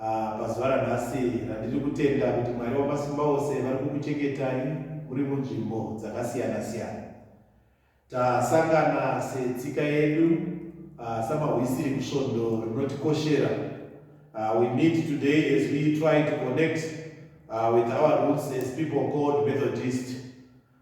Ah, pazuva ranhasi randiri kutenda kuti Mwari wamasimba ose vari kukuchengetai muri munzvimbo dzakasiyana-siyana. Tasangana setsika yedu, ah, samahwisiri kusvondo rinotikoshera. Ah, we meet today as we try to connect ah, with our roots as people called Methodist.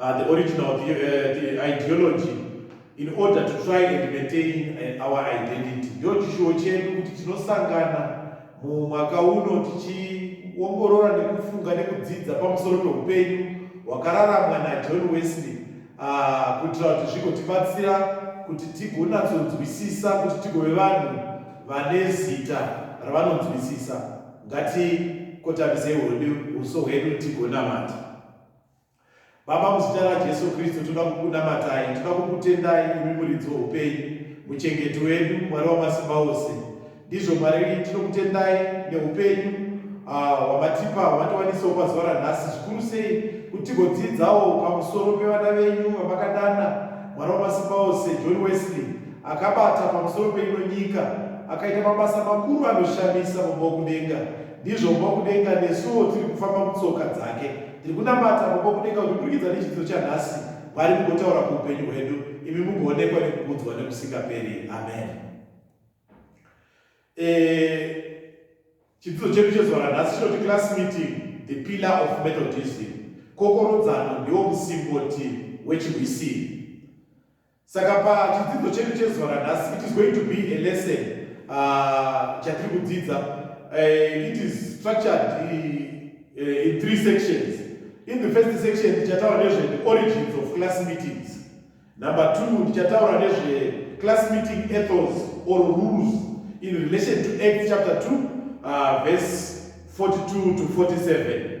Uh, the origin of the, uh, the ideology in order to try and maintain uh, our identity ndo chishuwo chedu kuti tinosangana mumwaka uno tichiongorora nekufunga nekudzidza pamusoro peupenyu hwakararamwa najohn wesley uh, kuitira kuti zvigotibatsira kuti tigonatsonzwisisa kuti tigove vanhu vane zita ravanonzwisisa ngatikotambiseyi hwedu uso hwedu tigonamata Baba, muzita raJesu Kristu toda kukunamatai, toda kukutendai imi muridzi weupenyu, muchengeti wedu, Mwari wamasimba ose. Ndizvo Mwari, tinokutendai neupenyu ah, hwamatipa uh, hwamatiwanisawo pazuva ranhasi, zvikuru sei kuti tigodzidzawo pamusoro pevana venyu vamakadana, Mwari wamasimba ose, John Wesley akabata pamusoro peino nyika, akaita mabasa makuru anoshamisa mumba wokudenga. Ndizvo mumba wokudenga nesuwo tiri kufamba mutsoka dzake. Ndiri kunamata Baba Vokudenga kuti kuburikidza nechidzidzo chanhasi, Mwari mugotaura kuupenyu hwedu, imi mugoonekwa nekukudzwa nekusingaperi. Amen. Eh, chidzidzo chedu chezuva ranhasi chinoti class meeting the pillar of methodism kokorodzano ndiwo musimboti wechirwisiri Saka pachidzidzo chedu chezuva ranhasi it is going to be a lesson uh, chatiri kudzidza uh, it is structured uh, uh, in three sections in the first section tichataura nezve the origins of class meetings number two tichataura nezve class meeting ethos or rules in relation to act chapter 2 uh, verse 42 to 47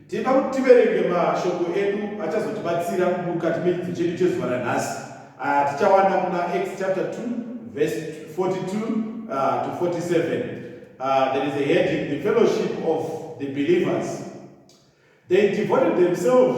Tinoda kuti tiverenge mashoko edu achazotibatsira mukati mechidzidzo chedu chezuva ranhasi ah, tichawana kuna Acts chapter 2 verse 42 ah, to 47 ah, there is a heading the fellowship of the believers they devoted themselves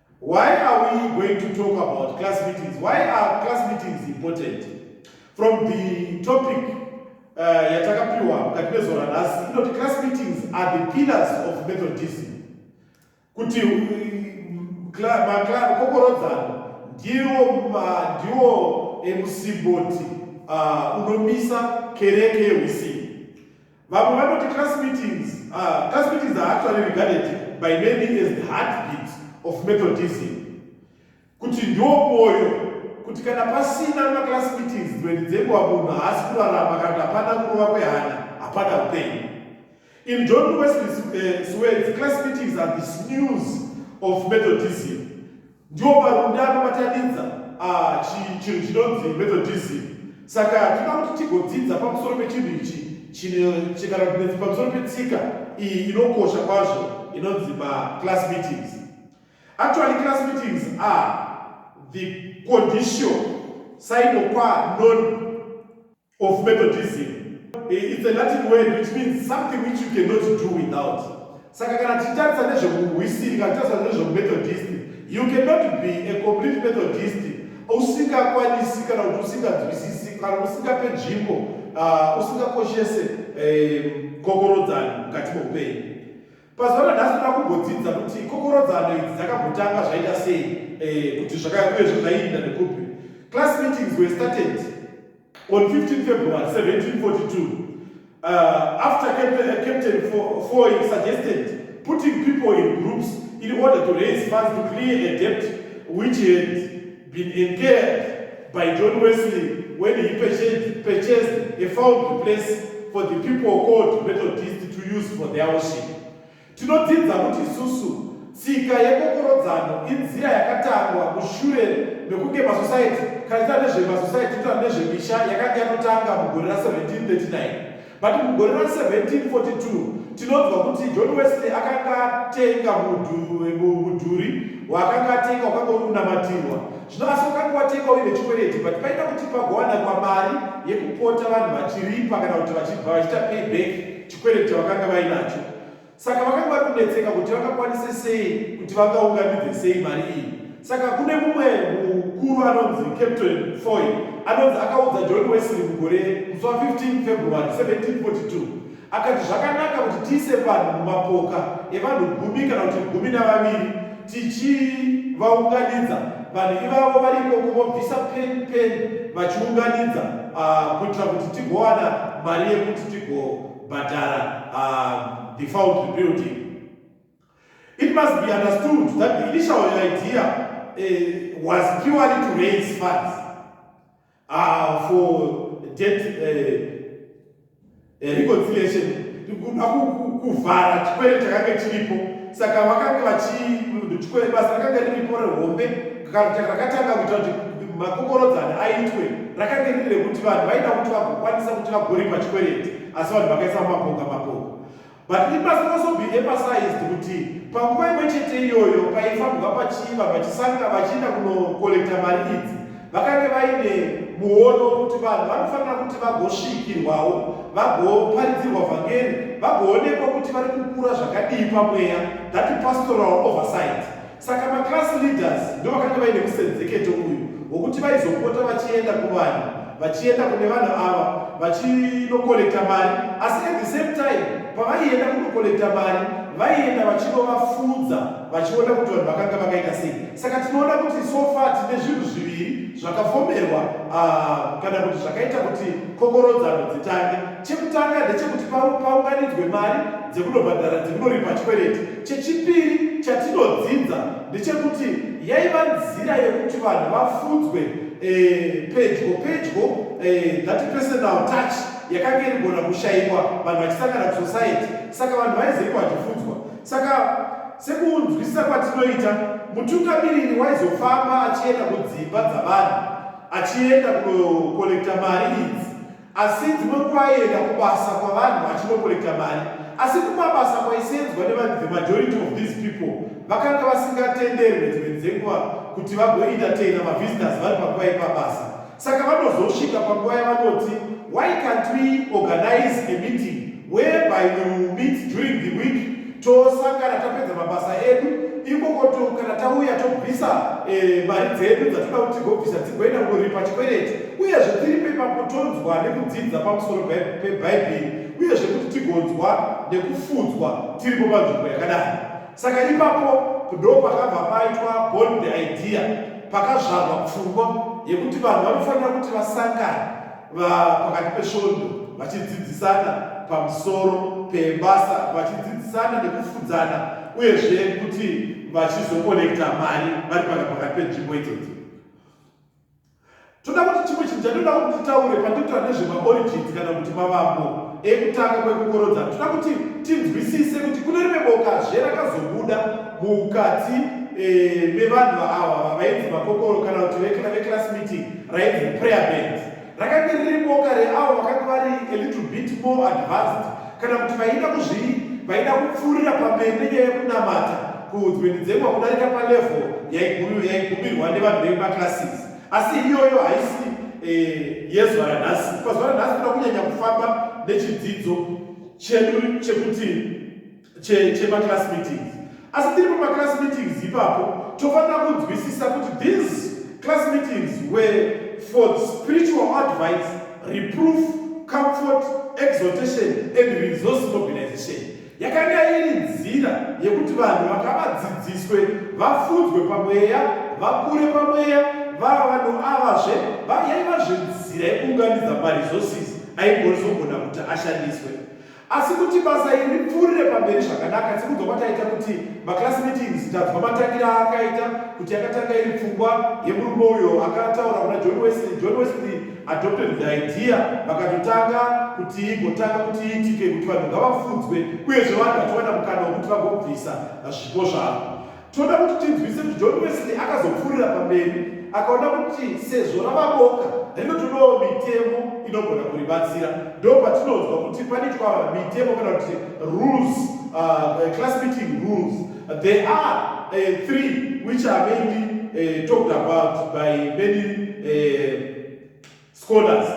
Why are we going to talk about class meetings? Why are class meetings important? From the topic uh, yatakapiwa mukati mezuva ranhasi inoti class meetings are the pillars of methodism kuti um, kokorodzano ndiwo ndiwo emusimboti uh, unomisa kereke yeusini Vamwe vanoti class meetings, uh, class meetings are actually regarded by many as the heartbeat of Methodism. Kuti ndiwo mwoyo, kuti kana pasina maclass meetings dzimweni dzenguva munhu haasi kurarama kana kuti hapana kurova kwehana, hapana upenyu. In John Wesley's uh, words, class meetings are the snooze of Methodism. ndiwo marunda anobatanidza ah, chinhu chinonzi methodism saka tinoda kuti tigodzidza pamusoro pechinhu ichi chikana kunetsi pamusoro petsika iyi inokosha kwazvo inonzi maclass meetings actually class meetings are the condition sainokwa non of Methodism. Eh, it's a Latin word which means something which you cannot do without. Saka kana tichitarisa nezvekuhwisiri, kana tichitarisa nezvekumethodist, you cannot be a complete Methodist usingakwanisi kana kuti usinganzwisisi kana usingape nzvimbo ah, usingakoshese eh, kokorodzani mukati meupenyu. Pazuva ranhasi toda kumbodzidza kuti kokorodzano idzi dzakambotanga zvaita sei eh, kuti zvakauyezve zvaiinda nekupi. Class meetings were started on 15 February 1742 uh, after Captain, uh, Captain Foy suggested putting people in groups in order to raise funds to clear a debt which had been incurred by John Wesley when he purchased, purchased a found place for the people called Methodist to use for their worship. Tinodzidza kuti isusu tsika yekokorodzano inzira yakatangwa mushure mekunge masosaiti kanisa nezvemasosaitinota nezvemisha yakanga yanotanga mugore ra 1739 But mugore ra 1742 tinonzwa kuti John Wesley akanga atenga mudhuri waakanga atenga wakanga uri kunamatirwa zvino asi wakanga watengwa uine chikwereti but paida kuti pagowanakwa mari yekupota vanhu vachiripa kana kuti vachibva vachiita payback chikwereti chavakanga vainacho Saka vakanga vari kunetseka kuti vangakwanise sei kuti vangaunganidze sei mari iyi. Saka kune mumwe mukuru anonzi Captain Foy anonzi akaudza John Wesley mugore musi wa 15 February 1742 akati zvakanaka kuti tiise vanhu mumapoka evanhu gumi kana kuti gumi navaviri tichivaunganidza vanhu ivavo vari ikoko vobvisa peni peni vachiunganidza ah, kuitira kuti tigowana mari yekuti tigo kubhadhara uh, the fault rebuilding it must be understood that the initial idea uh, was purely to raise funds uh, for debt uh, uh, reconciliation kuda kuvhara chikwere chakanga chiripo saka vakanga vachi chikwere basa rakanga riripo rehombe rakatanga kuita kuti makokorodzani aitwe rakange riri rekuti vanhu vaida kuti vagokwanisa kuti vagoripa chikwereti asi vanhu vakaisa mumapoka mapoka but it must also be emphasized kuti panguva imwe chete iyoyo paifambwa pachiva vachisanga vachienda kunokolekta mari idzi vakange vaine muono wekuti vanhu vanofanira kuti vagosvikirwawo vagoparidzirwa vhangeri vagoonekwa kuti vari kukura zvakadii pamweya that pastoral oversight Saka maclass leaders ndovakanga vaine musenzeketo uyu wokuti vaizopota vachienda kuvanhu vachienda kune vanhu ava vachinokolekta mari asi at the same time pavaienda kunokolekta mari vaienda vachinovafudza vachiona kuti vanhu vakanga vakaita sei saka tinoona kuti sofa tine zvinhu zviviri zvakafomerwa ah, kana kuti zvakaita kuti kokorodzano dzitange chekutanga ndechekuti paunganidzwe mari dzekunobhadhara dzekunoripa chikwereti Chechipiri chatinodzidza ndechekuti yaiva nzira yekuti vanhu vafudzwe eh, pedyo pedyo eh, that personal touch yakanga irigona kushaiwa vanhu vachisangana kusociety saka vanhu vaizoitwa vachifudzwa saka sekunzwisisa kwatinoita mutungamiriri waizofamba achienda kudzimba dzavanhu achienda kunokolekta mari idzi Asi dzimwe nguva aienda kubasa kwavanhu achinokorekta mari. Asi kumabasa kwaiseendzwa nevanhu the majority of these people vakanga vasingatenderwe dzimwe dzenguva kuti vagoentertainer mavisitors vari panguva yepabasa. Saka vanozosvika panguva yavanoti why can't we organise a meeting? whereby we will meet during the week tosangana tapedza mabasa edu ikoko to kana tauya tobvisa eh, mari dzedu dzatoda kuti tigobvisa dzigoenda kuripa chikwereti uyezve tiri pepapo tonzwa nekudzidza pamusoro pebhaibheri uyezve kuti tigonzwa nekufudzwa tiripo panzvimbo yakadai saka ipapo ndo pakabva paitwa born the idea pakazvarwa pfungwa yekuti vanhu vanofanira kuti vasangane pakati pesvondo vachidzidzisana pamusoro pebasa vachidzidzisana nekufudzana uyezve kuti vachizokonekta mari vari paka pakati penzvimbo idzodzo toda kuti chimwe chinhu chatinoda kuti titaure pandikutaura nezvemaorigins kana kuti mavambo ekutanga kwekukorodza toda kuti tinzwisise kuti kune rimwe boka zve rakazobuda mukati eh, mevanhu vaava vavainzi makokoro kana kuti vekla veclass meeting rainzi prayer band rakange riri boka reavo vakange vari a little bit more advanced kana kuti vaida kuzvii vaida kupfuurira pamberi nenyaya yekunamata kuudzwenidzekwa kudarika palevo yaigumirwa nevanhu vemaclasses asi iyoyo haisi eh, yezuva ranhasi pazuva ranhasi toda kunyanya kufamba nechidzidzo chedu chekuti chemaclass meetings asi tiri pamaclass meetings ipapo tofanira kunzwisisa kuti these class meetings were for spiritual advice reproof comfort exhortation and resource mobilization yakanga iri nzira yekuti vanhu vakavadzidziswe vafudzwe pamweya vakure pamweya vava vanhu avazve yaiva zvenzira yekuunganidza maresources aingozogona kuti ashandiswe asi kuti basa iri ripfuurire pamberi zvakanaka tiri kudzoka taita kuti maclass meetings tanzwa matangira aakaita kuti akatanga iri pfungwa yemurume uyo akataura kuna john wesley john wesley adopted the idea vakatotanga kuti igotanga kuti iitike kuti vanhu ngavafudzwe uyezve vanhu vatowana mukana wekuti vagobvisa zvipo zvavo Tinoda kuti tinzwise kuti John Wesley akazopfuurira pamberi akaona kuti sezvo ravaboka rinotodawo mitemo inogona kuribatsira. Ndo patinonzwa kuti panoitwa mitemo kana kuti rules, uh, uh class meeting rules. There are uh, three which are mainly uh, talked about by many uh, scholars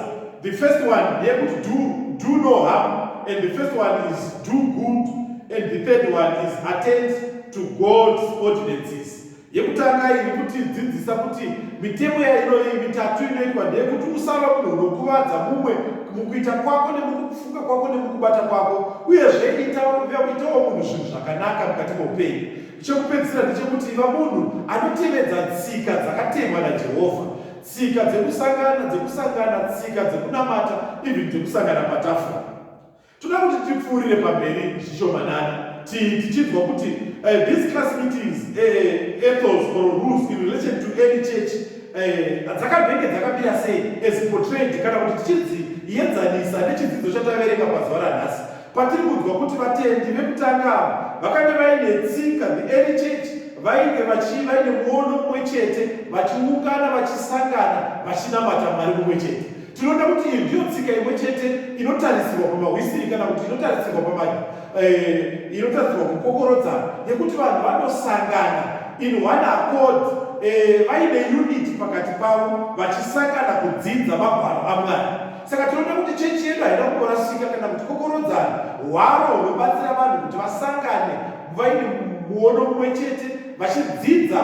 the first one ndeyekuti do, do no harm and the first one is do good and the third one is attend to god's ordinances yekutanga iyi nekuti dzidzisa kuti mitemo yainoyi mitatu inoitwa ndeyekuti usava munhu unokuvadza mumwe mukuita kwako nemukufunga kwako nemukubata kwako uyezve itawo munhu zvinhu zvakanaka mukati meupenyu chekupedzisira ndechekuti iva munhu anotevedza tsika dzakatemwa najehovha tsika dzekusangana dzekusangana tsika dzekunamata even dzekusangana patafura toda kuti tipfuurire pamberi zvishomanana tichinzwa kuti eh, these class meetings eh, ethos or rules in relation to any church eh, dzakabenge dzakamira sei as portrayed kana kuti tichidziedzanisa nechidzidzo chataverenga pazuva ranhasi Patiri kunzwa kuti vatendi vekutanga ava vakange vaine tsika, the early church, vainge vachi vaine muono mumwe chete, vachiungana, vachisangana, vachinamata Mwari mumwe chete. Tinoona kuti iyi ndiyo tsika imwe chete inotarisirwa pamahwisiri kana kuti inotarisirwa pama eh, inotarisirwa kukokorodzana yekuti vanhu vanosangana in one accord eh, vaine unity pakati pavo vachisangana kudzidza magwaro aMwari. Saka tinoona kuti chechi yedu haina kumborasika kana kuti kokorodzana hwaro hunobatsira vanhu kuti vasangane vaine muono mumwe chete vachidzidza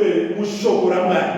eh, mushoko ramwari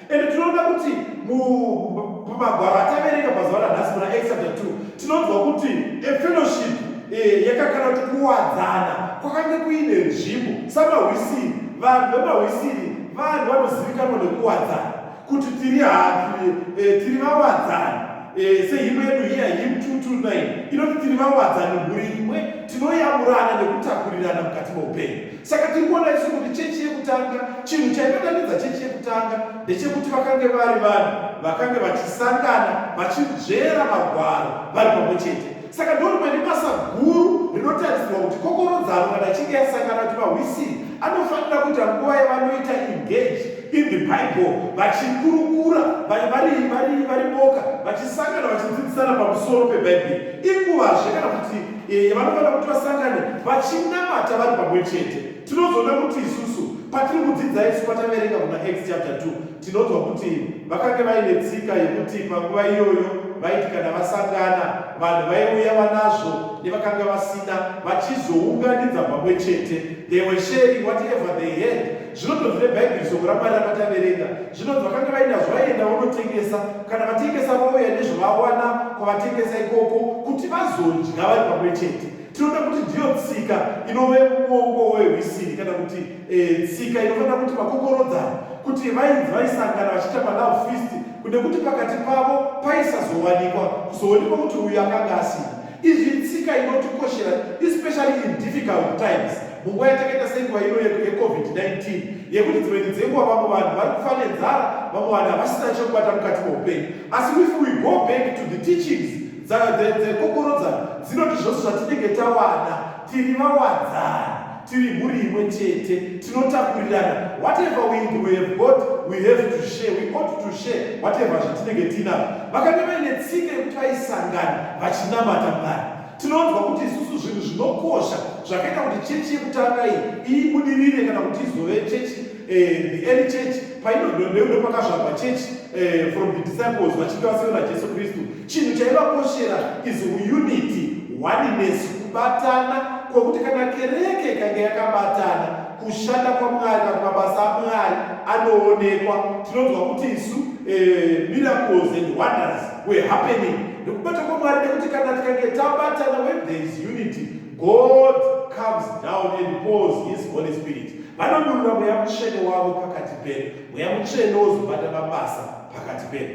ende tinoona kuti mumagwaro ataverenga mazuva ranhasi muna exader 2 tinonzwa kuti efellowship eh, yakakana kuti kuwadzana kwakange kuine nzvimbo samahwisiri vanhu vemahwisiri vanhu vanozivikanwa nekuwadzana kuti tiri hatu e, eh, tiri vawadzani e, eh, sehimwe yedu hiya him 229 inoti tiri vawadzani mhuri imwe tinoyamurana nekutakurirana mukati meupenyu saka tiri kuona isu kuti chechi yekutanga chinhu chaibatanidza chechi yekutanga ndechekuti vakange vari vanhu vakange vachisangana vachinzvera magwaro vari pamwe chete saka ndorimwene basa guru rinotarisirwa kuti kokorodzano kana ichinge yasangana kuti mahwisiri anofanira kuita nguva yavanoita engage in the bible vachikurukura vari vari vari vari boka vachisangana vachidzidzisana pamusoro pebhaibheri inguvazve kana kuti eh, yavanofanira kuti vasangane vachinamata vari pamwe chete tinozoona kuti isusu patiri kudzidza isu pataverenga kuna x chapter 2 tinonzwa kuti vakange vaine tsika yekuti panguva iyoyo vaiti kana vasangana vanhu vaiuya vanazvo nevakanga vasina vachizounganidza pamwe chete they were sharing whatever they had Zvinonzi vane Bhaibheri soko raMwari rakataverenga. Zvinonzi vakanga vainazvo vaienda vonotengesa. Kana vatengesa vauya nezvavawana kwavatengesa ikoko kuti vazodya vari pamwe chete. Tinoda kuti ndiyo tsika inove muongo wehwisiri kana kuti eh, tsika inofanira kuti vakokorodzana kuti vainzi vaisangana vachiita malove feast kunekuti pakati pavo paisazowanikwa kuzoonekwa kuti uyu akanga asina Izvi itsika inotikoshera especially in difficult times munguva yatakaita senguva ino yecovid-19 yekuti dzimweni dzenguva vamwe vanhu vari kufa nenzara vamwe vanhu havasina chekubata mukati meupenyu asi if we go back to the teachings dzakokorodzana dzinoti zvose zvatinenge tawana tiri vawadzani tiri mhuri imwe chete tinotakurirana whatever we, we have got we have to share we ought to share whatever zvatinenge tiinavo vakange vaine tsika yekuti vaisangana vachinamata mwari tinonzwa kuti isusu zvinhu zvinokosha zvakaita kuti chechi yekutanga iyi ibudirire kana kuti izove chechi Eh, the early church painodondeuro pakazvarwa church eh, from the disciples vachinge vaseura jesu kristu chinhu chaivakoshera is unity oneness kubatana kwokuti kana kereke ikange yakabatana kushanda kwamwari kana mabasa amwari anoonekwa tinonzwa kuti isu eh, miracles and wonders were happening nekubata kwamwari nekuti kana tikange tabatana when there is unity God comes down and pours his holy spirit vanodurura mweya mutsvene wavo pakati pedu mweya mutsvene wozobata mabasa pakati pedu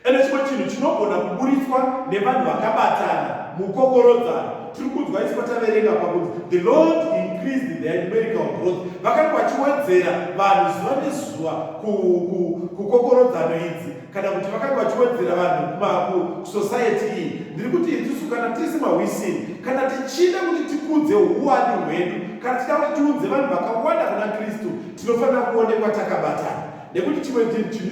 ende chimwe chinhu chinogona kuburitswa nevanhu vakabatana mukokorodzano tiri kunzwa isi pataverenga pakunzi the lord increased the numerical growth vakanga vachiwedzera vanhu zuva nezuva kukokorodzano idzi kana kuti vakanga vachiwedzera vanhu kusociety iyi ndiri kuti itusu kana tisi mahwisini kana tichida kuti tikudze uwani hwedu kana tichida kuti tiudze vanhu vakawanda kuna kristu tinofanira kuonekwa takabatana nekuti chimwe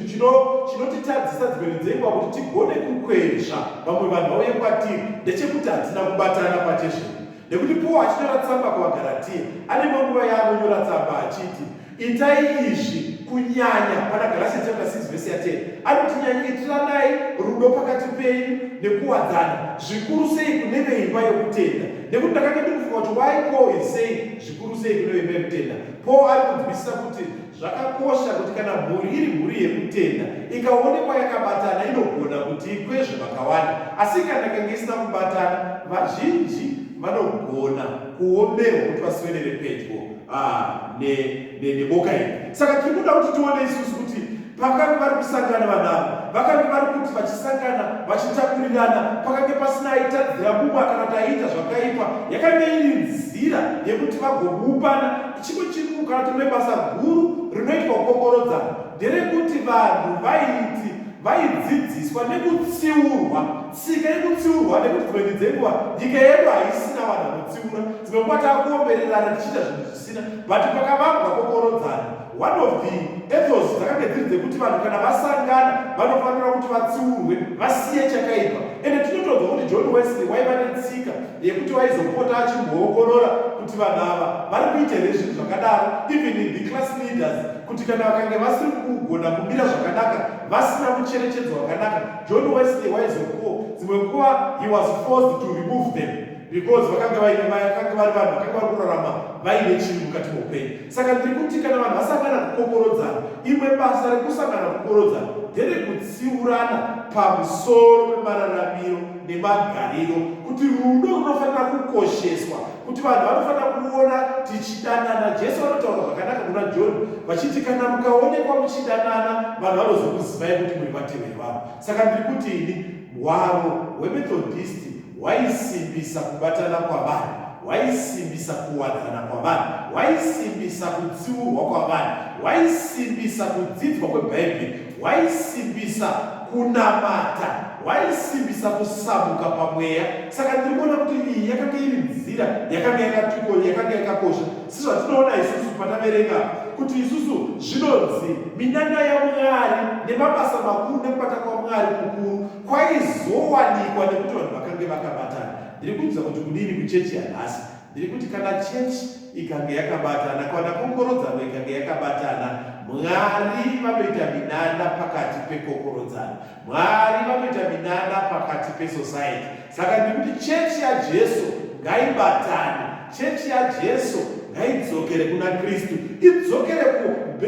chinhu chinotitadzisa dzimene dzenguva kuti tigone kukwezva vamwe vanhu vauye kwatiri ndechekuti hatina kubatana pachezvedu nekuti paul achinyora tsamba kuvagaratiya ane manguva yaanonyora tsamba achiti Itai izvi kunyanya pana Galatians chapter 6 verse ya 10 anoti nyanyikiranai rudo pakati penyu nekuwadzana zvikuru sei kune veimba yokutenda nekuti ndakange ndikufunga kuti why Paul is saying zvikuru sei kune veimba yokutenda Paul ari kunzwisisa kuti zvakakosha kuti kana mhuri iri mhuri yekutenda ikaonekwa yakabatana inogona kuti ikwezve vakawanda asi kana kange isina kubatana vazhinji vanogona kuomerwa kuti vaswedere pedyo ah, neboka iri saka tiri kuda kuti tione isusu kuti pakange vari kusangana vanavo vakange vari kuti vachisangana vachitakurirana pakange pasina aitadzira mumwe kana kuti aiita zvakaipa yakange iri nzira yekuti vagokupana chimwe chikuru kana tine basa guru rinoitwa kukokorodzana nderekuti vanhu vaiti vaidzidziswa nekutsiurwa tsika yekutsiurwa nekuti dzimweni dzenguva nyika yedu haisina vanhu vanotsiura dzimwe nguva takuombererana tichiita zvinhu zvisina but pakavambwa kokorodzana one of the ethos dzakange dziri dzekuti vanhu kana vasangana vanofanira kuti vatsiurwe vasiye chakaipa ende tinotonzwa kuti john wesley waiva netsika yekuti waizopota achimboongorora kuti vanhu ava vari kuita here zvinhu zvakadaro even the class leaders kuti kana vakange vasiri kugona kumira zvakanaka vasina kucherechedzwa vakanaka john wesley waizokuwo dzimwe nguva he was forced to remove them because vakanga vaine vakanga vari vanhu vakanga vari kurarama vaine chinhu mukati moupenyu saka ndiri kuti kana vanhu vasangana kukokorodzana imwe basa rekusangana kukokorodzana nderekutsiurana pamusoro pemararamiro nemagariro kuti rudo runofanira kukosheswa kuti vanhu vanofanira kuona tichidanana jesu vanotaura zvakanaka kuna john vachiti kana mukaonekwa muchidanana vanhu vanozokuzivai kuti muri vateveri vanhu saka ndiri kuti ini hwaro hwemethodhisti hwaisimbisa kubatana kwavanhu, hwaisimbisa kuwadzana kwavanhu, hwaisimbisa kutsiurwa kwavanhu, hwaisimbisa kudzidzwa kweBhaibheri, hwaisimbisa kunamata, hwaisimbisa kusamuka pamweya. Saka ndiri kuona kuti iyi yakanga iri nzira yakanga yakatiko yakanga yakakosha sezvatinoona isusu pataverenga kuti isusu zvinonzi minana yamwari nemabasa makuru nekubata kwamwari kukuru kwaizowanikwa nekuti vanhu vakange vakabatana ndiri kunzwa kuti kudini kuchechi yanhasi ndiri kuti kana chechi ikange yakabatana kana kokorodzano ikange yakabatana mwari vanoita minana pakati pekokorodzano mwari vanoita minana pakati pesociety saka ndiri kuti chechi yajesu ngaibatane Chechi yaJesu ngaidzokere kuna Kristu, idzokere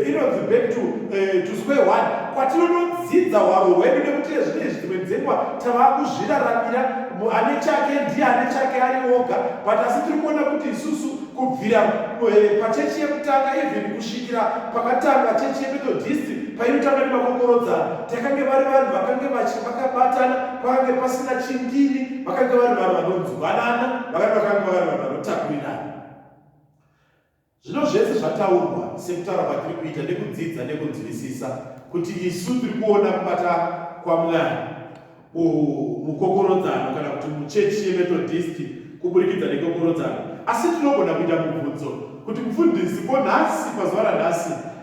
inonzi back to, uh, to square one kwatinonodzidza hwaro hwedu nekuti ezvine zvimwe dzengwa tava kuzviraramira ane chake ndiye ane chake ari oga but asi tiri kuona kuti isusu kubvira eh, pachechi yekutanga even kusvikira pakatanga chechi yemethodist painotanga nemakokorodzana takange vari vanhu vakange vachi vakabatana pakange pasina chindini vakanga vari vanhu vanonzwanana vakati vakanga vari vanhu vanotakurirana zvino zvese zvataurwa sekutaura kwatiri kuita nekudzidza nekunzwisisa kuti isu tiri kuona kubata kwamwari mukokorodzano kana kuti muchechi yemethodhisti kuburikidza nekokorodzano asi tinogona kuita mubvunzo kuti mufundisi ko nhasi pazuva ranhasi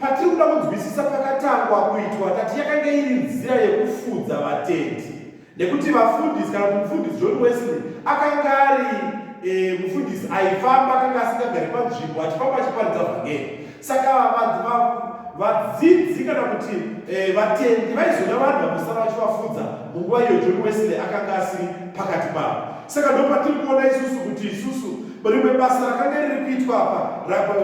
Patiri kuda kunzwisisa pakatangwa kuitwa tati yakange iri nzira yekufudza vatendi nekuti vafundisi kana kuti mufundisi john wesley akanga ari e, mufundisi aifamba akanga asingagari panzvimbo achifamba achiparidza vhangeri saka vadzidzi kana kuti e, vatendi vaizoda vanhu vamusara vachivafudza munguva iyo john wesley akanga asiri pakati pavo saka ndopatiri kuona isusu kuti isusu rimwe basa rakanga riri kuitwa apa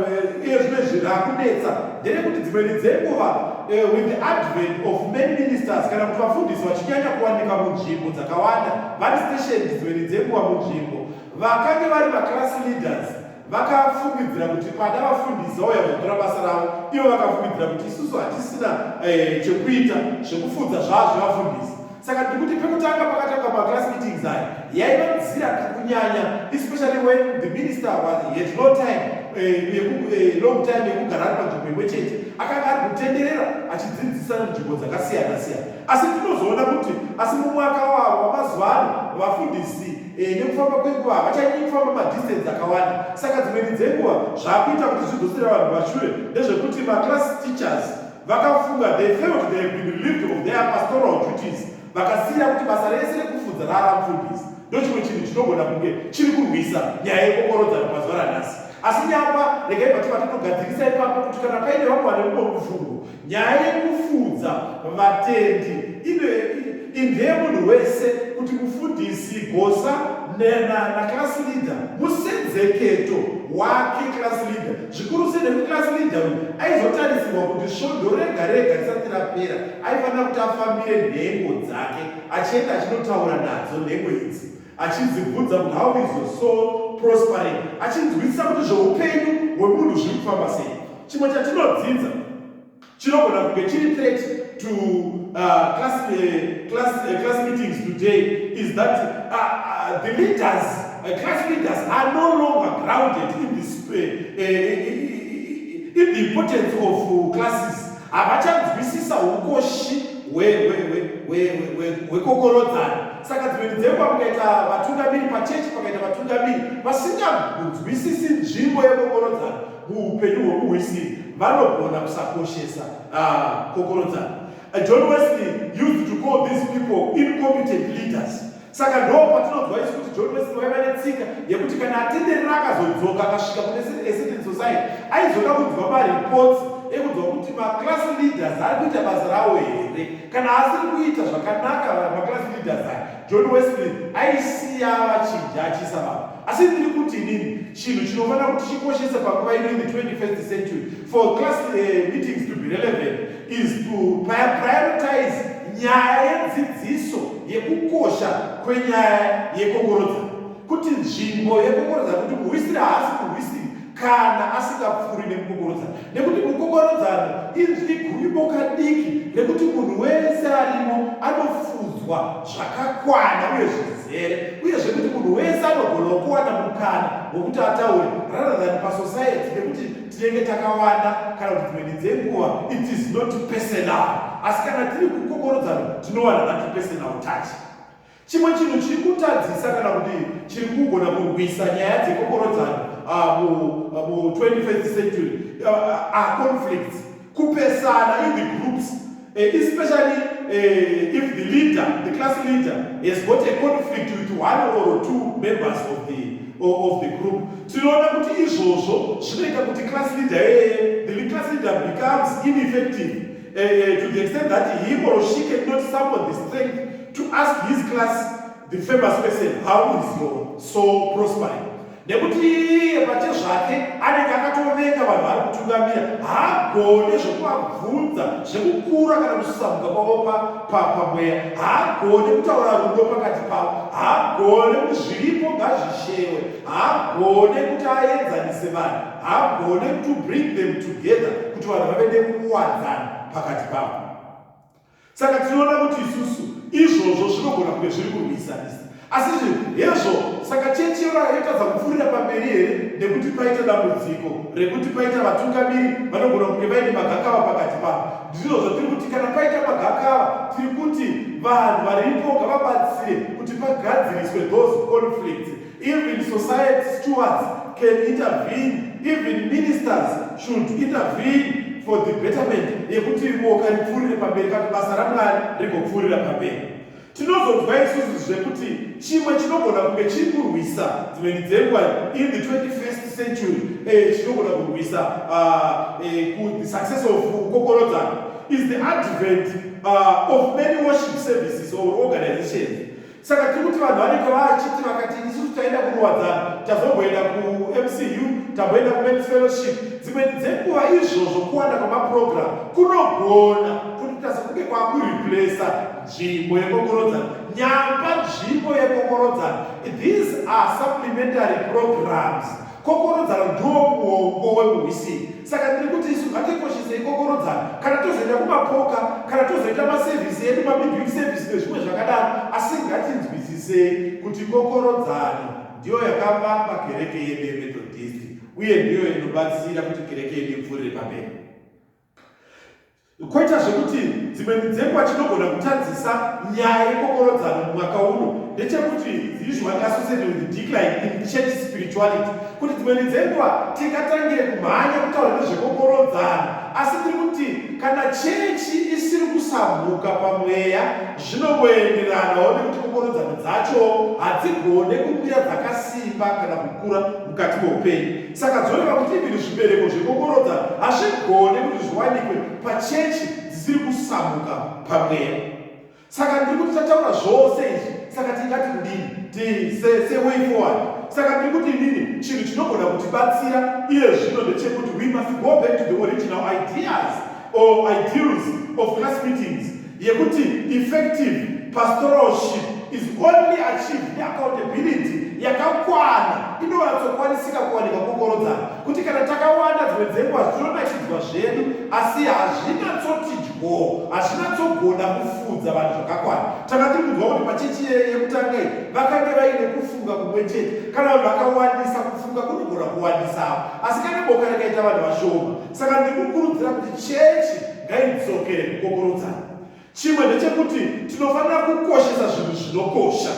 iye zvino izvi rakunetsa nderekuti dzimweni dzenguva eh, with the advent of many ministers kana kuti vafundisi vachinyanya kuwanika munzvimbo dzakawanda vari station dzimweni dzenguva munzvimbo vakange vari vaclass leaders vakafungidzira kuti pada vafundisi vauya kuzotora basa ravo ivo vakafungidzira kuti isusu hatisina eh, chekuita zvekufunza zvavo zvevafundisi saka ndikuti pekutanga pakatanga maclass meetings aya yaiva nzira kakunyanya especially when the minister was had no time eh, eh, long time yekugara ari panzvimbo imwe chete akanga ari kutenderera achidzidzisa nzvimbo dzakasiyana siyana asi tinozoona kuti asi mumwaka wavo wamazuva ano vafundisi eh, nekufamba kwenguva havachanyii kufamba madistance akawanda saka dzimweni dzenguva zvaakuita kuti zvidzosera vanhu vashure ndezvekuti maclass teachers Vakafunga, they felt they have been relieved of their pastoral duties. Vakasiira kuti basa rese rekufudza rara mfundisi. Ndochimwe chinhu chinogona kunge chiri kurwisa nyaya yekokorodzano mazuva ranhasi. Asi nyapa regai vati vatinogadzirisa ipapo kuti kana paine vamwe vane mumwe mufungo, nyaya yekufudza vatendi ine indeye munhu wese kuti mufundisi gosa nena na class leader musenzeketo wake class leader zvikuru sei nekuti class leader uyu aizotarisirwa kuti svondo rega rega risati rapera aifanira kuti afambire nhengo dzake achienda achinotaura nadzo nhengo idzi achidzibvunza kuti how is your soul prospering achinzwisisa kuti zveupenyu hwemunhu zviri kufamba sei chimwe chatinodzinza chinogona kunge chiri threat to uh, class, uh, class, uh, class meetings today is that uh, uh, the leaders uh, class leaders are no longer grounded in this uh, uh, in the importance of uh, classes havachanzwisisa ukoshi hwekokorodzana saka dzimweni dzenguva kukaita vatungamiri pachechi pakaita vatungamiri vasinganzwisisi nzvimbo yekokorodzana muupenyu hwomuhwisiri vanogona kusakoshesa ah, kokorodzano. Uh, John Wesley used to call these people incompetent leaders. Saka ndo patinonzwa isu kuti John Wesley waiva netsika yekuti kana atenderera akazodzoka akasvika kune Essendon Society aizoda kunzwa mareports ekunzwa kuti maclass leaders ari kuita basa rawo here kana asiri kuita zvakanaka maclass leaders aya John Wesley aisiya vachinja achiisa vanhu asi ndiri kuti inini chinhu chinofanira kuti chikoshese panguva ino in the 21st century for class uh, meetings to be relevant is to prioritize nyaya yedzidziso yekukosha kwenyaya yekokorodzano kuti nzvimbo yekokorodzano kuti muhwisiri haasi muhwisiri kana asingapfuuri nemukokorodzano nekuti mukokorodzano inzwi gumi bokadiki rekuti munhu wese arimo anofudzwa zvakakwana uye zvizere uye zvekuti munhu wese anogona kuwana mukana wokuti ataure rather than pasociety nekuti tinenge takawanda kana kuti dzimweni dzenguva it is not personal asi kana tiri kukokorodzano tinowana nati personal touch Chimwe chinhu chiri kutadzisa kana kuti chiri kugona kurwisa nyaya dzekokorodzano mu21st century aconflicts kupesana in the groups eh, especially eh, if the leader the class leader has got a conflict with one or two members of the, of the group tinoona kuti izvozvo zvinoita kuti class leader eye eh, the class leader becomes ineffective uh, uh, to the extent that he or she cannot summon the strength to ask his class the famous person how is your soul prospering nekuti iye pache zvake anenge akatovenga vanhu vari kutungamira haagone zvekuvabvunza zvekukura kana kusamuka kwavo pamweya haagone kutaura rudo pakati pavo haagone kuti zviripo ngazvishewe haagone kuti aenzanise vanhu haagone to bring them together kuti vanhu vave nekuwadzana pakati pavo saka tinoona kuti isusu izvozvo zvinogona kunge zviri kurwisanisa asi hezvo saka chechi yora yotadza kupfuurira pamberi here nekuti paita dambudziko rekuti paita vatungamiri vanogona kunge vaine magakava pakati pavo ndizvo zvatiri kuti kana paita magakava tiri kuti vanhu varipo ngavabatsire kuti pagadziriswe those conflicts Even society stewards can intervene, even ministers should intervene for the betterment yekuti boka ripfuurire pamberi kana basa ramwari rigopfuurira pamberi tinozonzwa isusu zvekuti chimwe chinogona kunge chiri kurwisa dzimweni dzenguva in the 21st century eh, chinogona kurwisa ah, eh, the success of kokorodzano is the advent ah, of many worship services or organizations saka tiri kuti vanhu vanenge vachiti vakati isusu taenda kuruwadzano tazomboenda kumcu tamboenda kumens fellowship dzimweni dzenguva izvozvo kuwanda kwemaprogramu kunogona kutoita sekunge kwakureplesa nzvimbo yekokorodzano nyamba nzvimbo yekokorodzano these are supplementary programs kokorodzano ndiwo muongo wekuhwisini saka ndiri kuti isu ngatikoshese ikokorodzana kana tozoita kumapoka kana tozoita masevhisi edu mabibig sevhisi nezvimwe zvakadaro asi ngatinzwisisei kuti kokorodzano ndiyo yakavamba kereke yedu yemethodhisti uye ndiyo inobatsira kuti kereke yedu ipfuurire pamberi Koita zvekuti dzimwe midzengwa chinogona kutadzisa nyaya yekokorodzano mumwaka uno ndechekuti it's usually associated with decline in church spirituality kuti dzimwe midzengwa tingatangire kumhanya kutaura nezvekokorodzano asi tiri kuti kana chechi isiri kusambuka pamweya zvinongoenderanawo nekuti kokorodzano dzacho hadzigone kumira dzakasimba kana kukura mukati meupenyu Saka dzoreva kuti ivini zvibereko zvekokorodza hazvigone kuti zviwanikwe pachechi dzisiri kusamuka pamweya. Saka ndiri kuti tataura zvose izvi, saka tingati kudini? Tiseseway forward. Saka ndiri kuti inini chinhu chinogona kutibatsira iye zvino ndechekuti we must go back to the original ideas or ideals of class meetings yekuti effective pastoralship is only achieved neaccountability yakakwana inonyatsokwanisika kuwanika kokorodzana kuti kana takawanda dzimwe dzenguva zvinonakidzwa zvedu asi hazvinatsoti dyo hazvinatsogona kufudza vanhu zvakakwana tanga tiri kunzwa kuti pachechi yekutanga iyi vakange vaine kufunga kumwe chete kana vanhu vakawandisa kufunga kunogona kuwandisawo asi kana boka rakaita vanhu vashoma saka ndikukurudzira kuti chechi ngaidzokere kukokorodzana chimwe ndechekuti tinofanira kukoshesa zvinhu zvinokosha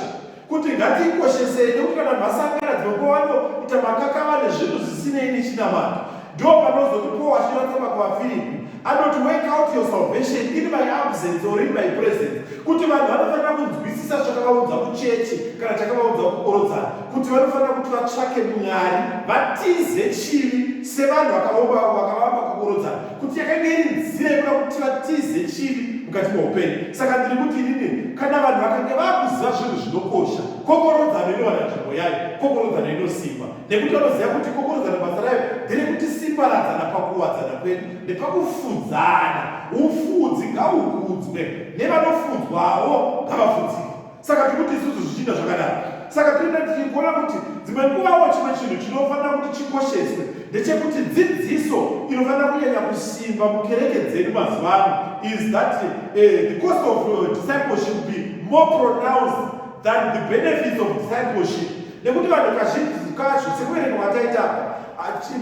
kuti ngatikoshesei nekuti kana masangana dzinokovano ita makakava nezvinhu zvisinei nechinamata ndo panozoti paul achinoratama kuvafiripi anoti wake out your salvation in my absence or in my presence kuti vanhu vanofanira kunzwisisa zvakavaudza kuchechi kana chakavaudza kukorodzana kuti vanofanira kuti vatsvake mwari vatize chivi sevanhu vakavomba vakavamba kukorodza kuti yakanga iri nzira yekuda kuti vatize chivi mukati meupenyu saka ndiri kuti inini kana vanhu vakange vakuziva zvinhu zvinokosha kokorodzano inowana nzvimbo yayo kokorodzano inosimba nekuti vanoziva kuti kokorodzano basa rayo ndere kuti simbaradzana pakuwadzana kwedu nepakufudzana ufudzi ngaukudzwe nevanofudzwawo ngavafudzike saka tiri kuti isusu zvichiita zvakadaro saka tinoenda tichigona kuti dzimwe nguvawo chimwe chinhu chinofanira kuti chikosheswe ndechekuti dzidziso inofanira kunyanya kusimba mukereke dzedu mazuva ano is that uh, the cost of uh, discipleship be more pronounced than the benefits of discipleship nekuti vanhu kazhinji kacho sekuverenga kwataita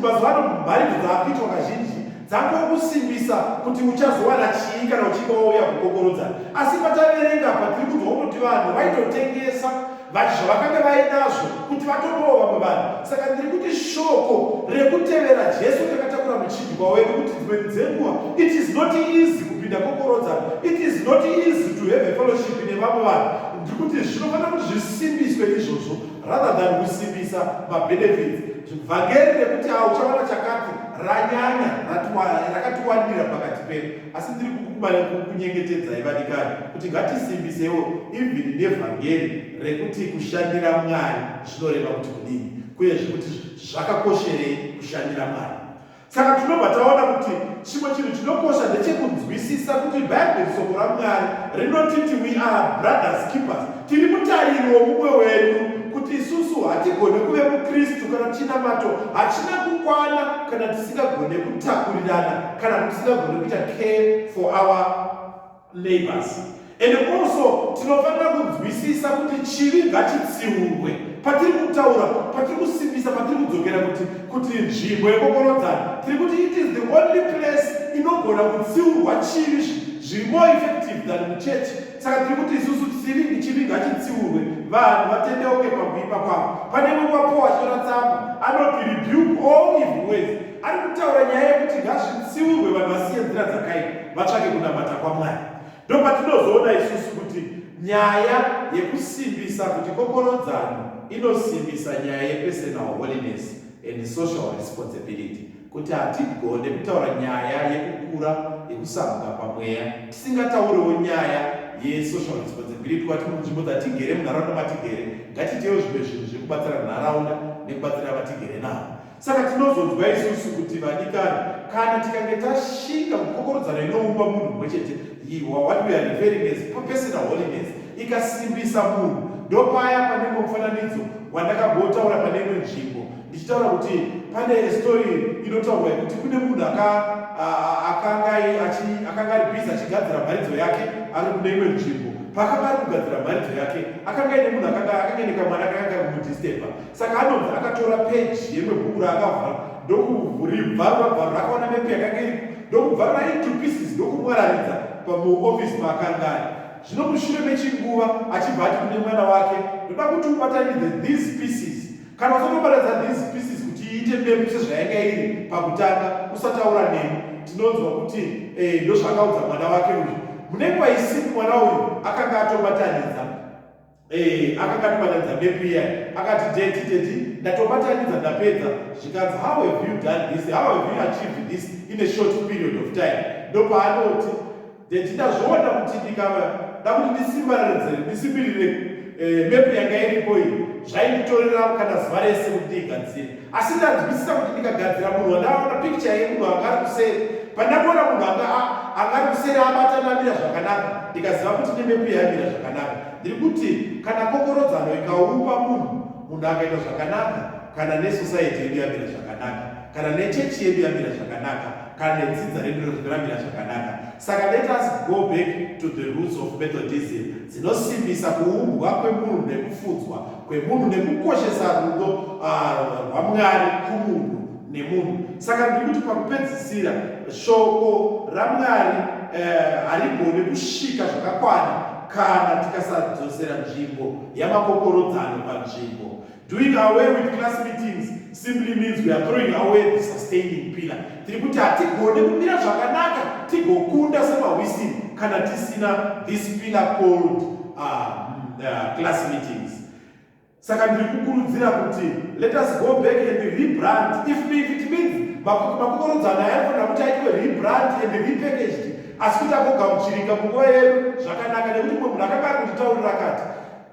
mazuva ano mharidzo dzaakuitwa kazhinji dzangokusimbisa kuti uchazowana chii kana uchinge wauya kukokorodza asi pataverenga apa tiri kunzwa kutoti vanhu vaitotengesa zvavakanga vainazvo kuti vatopawo vamwe vanhu saka ndiri kuti shoko rekutevera jesu takatakura muchidyiwa wedu kuti dzimweni dzenguva it is not easy kupinda kokorodza it is not easy to have a fellowship nevamwe vanhu ndiri kuti zvinofanira kuti zvisimbiswe izvozvo rather than kusimbisa mabenefits Vhangeri rekuti awo uchawana chakati ranyanya rakatiwandira pakati pedu, asi ndiri kukunyengetedzai vadikani kuti ngatisimbisewo ivhini nevhangeri rekuti kushandira Mwari zvinoreva kuti kudini, kuyezve kuti zvakakosherei kushandira Mwari. saka tinobva taona kuti chimwe chinhu chinokosha ndechekunzwisisa kuti bhaibheri soko ramwari rinotiti we are brothers keepers tiri mutariri womumwe wedu kuti isusu hatigone kuve mukristu kana chinamato hachina kukwana kana tisingagone kutakurirana kana kuti tisingagone kuita care for our labors and also tinofanira kunzwisisa kuti chivi ngachitsiurwe patiri kutaura patiri kusimbisa patiri kudzokera kuti kuti nzvimbo yekokorodzana tiri kuti it is the only place inogona kutsiurwa chivi zviri more effective than muchechi saka tiri kuti isusu chivi chivi ngachitsiurwe vanhu vatendeuke pakuipa kwavo pane mumwe wapowa chora tsamba anoti rebuke all evil ways ari kutaura nyaya yekuti ngazvitsiurwe vanhu vasiye nzira dzakaipa vatsvake kunamata kwamwari ndopatinozoona isusu kuti nyaya yekusimbisa kuti kokorodzano inosimbisa nyaya yepersonal holiness and social responsibility kuti hatigone kutaura nyaya yekukura yekusamuka pamweya tisingatauriwo nyaya yesocial responsibility kwati munzvimbo dzatigere munharaunda matigere ngatitewo zvimwe zvinhu zvekubatsira nharaunda nekubatsira vatigere navo Saka tinozonzwa isusu kuti vadikani, kana tikange tashinga kukokorodzana inoumba munhu mumwe chete, what we are referring as personal holiness, ikasimbisa munhu. Ndopaya pane mumwe mufananidzo wandakambotaura pane imwe nzvimbo ndichitaura kuti pane story inotaurwa yekuti kune munhu akanga ari bhizi achigadzira mharidzo yake ari kune imwe nzvimbo paakanga ari kugadzira mharidzo yake akanga ine munhu akanga ine kamwana kakanga ari kumudhistepa Saka anonzi akatora peji yemwe bhuku raakavhara ndokuvhuribvarwa bvarwa akaona mepi yakange iri ndokubvarwa into pieces ndokumwararidza pamuofisi maakanga ari zvino mushure mechinguva achibva ati kune mwana wake ndoda kuti ubatanidze these pieces kana usandobatanidza these pieces kuti iite mepi sezvayanga iri pakutanga usataura neni tinonzwa kuti eh, ndozvakaudza mwana wake uyu mune kwaisiku mwana uyu akanga atobatanidza Eh, akanga ndibatadza map iya akati daddy daddy ndatobatanidza ndapedza zvikanzi how have you done this how have you achieved this in a short period of time ndopaanoti daddy ndazviona kuti ndikava ndakuti ndisimbaririre ndisimbirire eh, map yanga iripo iyi zvainditorera kana zuva rese kuti ndiigadzire asi ndanzwisisa kuti ndikagadzira munhu wandaona pikicha yemunhu anga ari kuseri pandakuona munhu anga anga ari kuseri abata namira zvakanaka ndikaziva kuti nemepi yamira zvakanaka ndiri kuti kana kokorodzano ikaupa munhu munhu akaita zvakanaka kana nesosaiti yedu yamira zvakanaka kana nechechi yedu yamira zvakanaka kana nedzidza redu rinozviramira zvakanaka saka let us go back to the roots of methodism dzinosimbisa kuumbwa kwemunhu nekufudzwa kwemunhu nekukoshesa rudo ah, rwamwari uh, kumunhu nemunhu saka ndiri kuti pakupedzisira shoko ramwari eh, harigone uh, kusvika zvakakwana kana tikasadzosera nzvimbo yamakokorodzano panzvimbo Doing away with class meetings simply means we are throwing away the sustaining pillar. Tiri kuti hatigone kumira zvakanaka tigokunda semahwisini kana tisina this pillar called uh, uh, class meetings. Saka ndiri kukurudzira kuti let us go back and rebrand if, if it means makokorodzana yaifanira kuti aitwe rebrand and repackaged asi kuti agogamuchirika munguva yedu zvakanaka nekuti mwe munhu akanga ari kunditaurira kati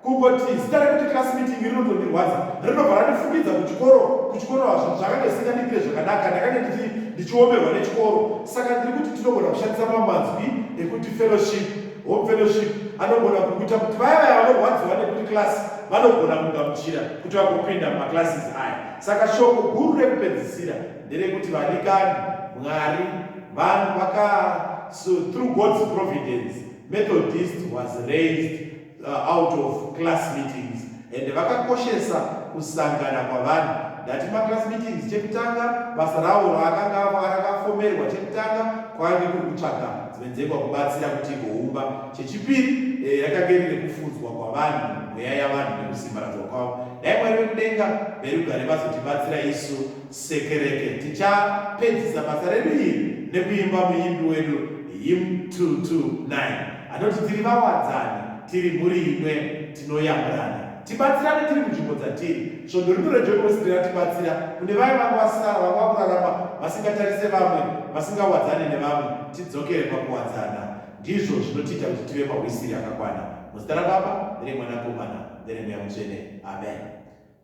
Kungoti zita rekuti class meeting rinotondirwadza rinobva randifukidza kuchikoro kuchikoro hazvo zvakange zvisingandiitire zvakanaka ndakange ndichi ndichiomerwa nechikoro saka ndiri kuti tinogona kushandisa mamanzwi ekuti fellowship home fellowship anogona kukuita kuti vaya vaya vanorwadziwa nekuti class vanogona kugamuchira kuti vagopinda mumaclasses aya saka shoko guru rekupedzisira nderekuti vanikani mwari vanhu vaka so through god's providence methodist was raised uh, out of class meetings and vakakoshesa kusangana kwavanhu ndati maclass meetings chekutanga basa ravo raakanga rakafomerwa chekutanga kwaange kuri kutsvaga dzimwe dzengwa kubatsira kuti igoumba chechipiri eh, rakange riri kufudzwa kwavanhu mweya yavanhu nekusimbaradzwa kwavo dai mwari vekudenga verugare vazotibatsira isu sekereke tichapedzisa basa redu iri nekuimba muimbi wedu him 229 Anoti tiri vawadzani, tiri mhuri imwe, tinoyamurana. Tibatsirane tiri munzvimbo dzatiri. Svondo rino reJoy Boys riratibatsira kune vaya vanga vasara, vanga vakurarama vasingatarise vamwe, vasingawadzane nevamwe, tidzokere pakuwadzana. Ndizvo zvinotiita kuti tive mahwisiri akakwana. Muzita raBaba, nereMwanakomana, nereMweya Mutsvene. Amen.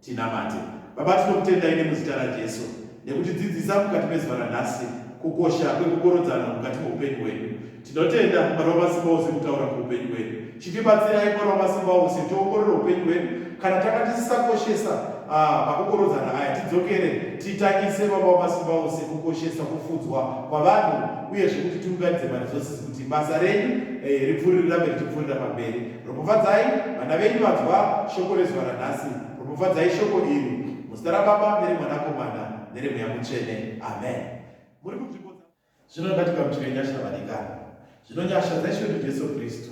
Tinamate. Baba, tinokutendai nemuzita raJesu nekutidzidzisa mukati mezuva ranhasi kukosha kwekukorodzana mukati meupenyu hwedu. Tinotenda Mwari wamasimba ose kutaura kuupenyu hwedu. Chitibatsirai Mwari wamasimba ose tiongorore upenyu hwedu kana tanga tisisakoshesa ah, makukorodzana aya tidzokere titangise baba wamasimba ose kukoshesa kufudzwa kwavanhu uye zvekuti tiunganidze maresources kuti basa renyu eh, ripfuriri rambe richipfurira pamberi Ropafadzai vana venyu vanzwa shoko rezuva ranhasi. Ropafadzai shoko iri muzita raBaba nereMwanakomana nereMweya Mutsvene. Amen. Muri kunzvimbo dza zvino ngatigamuchire nyasha vadikani. Zvino nyasha dzaIshe wedu Jesu Kristu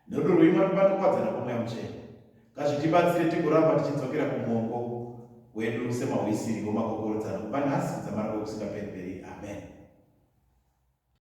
nerudo rweimwari Baba nokuwadzana kwoMweya Mutsvene ngazvitibatsire tigoramba tichidzokera kumuongo wedu semahwisiri womakokorodzano kubva nhasi kudzamara kwekusingaperi-peri. Amen.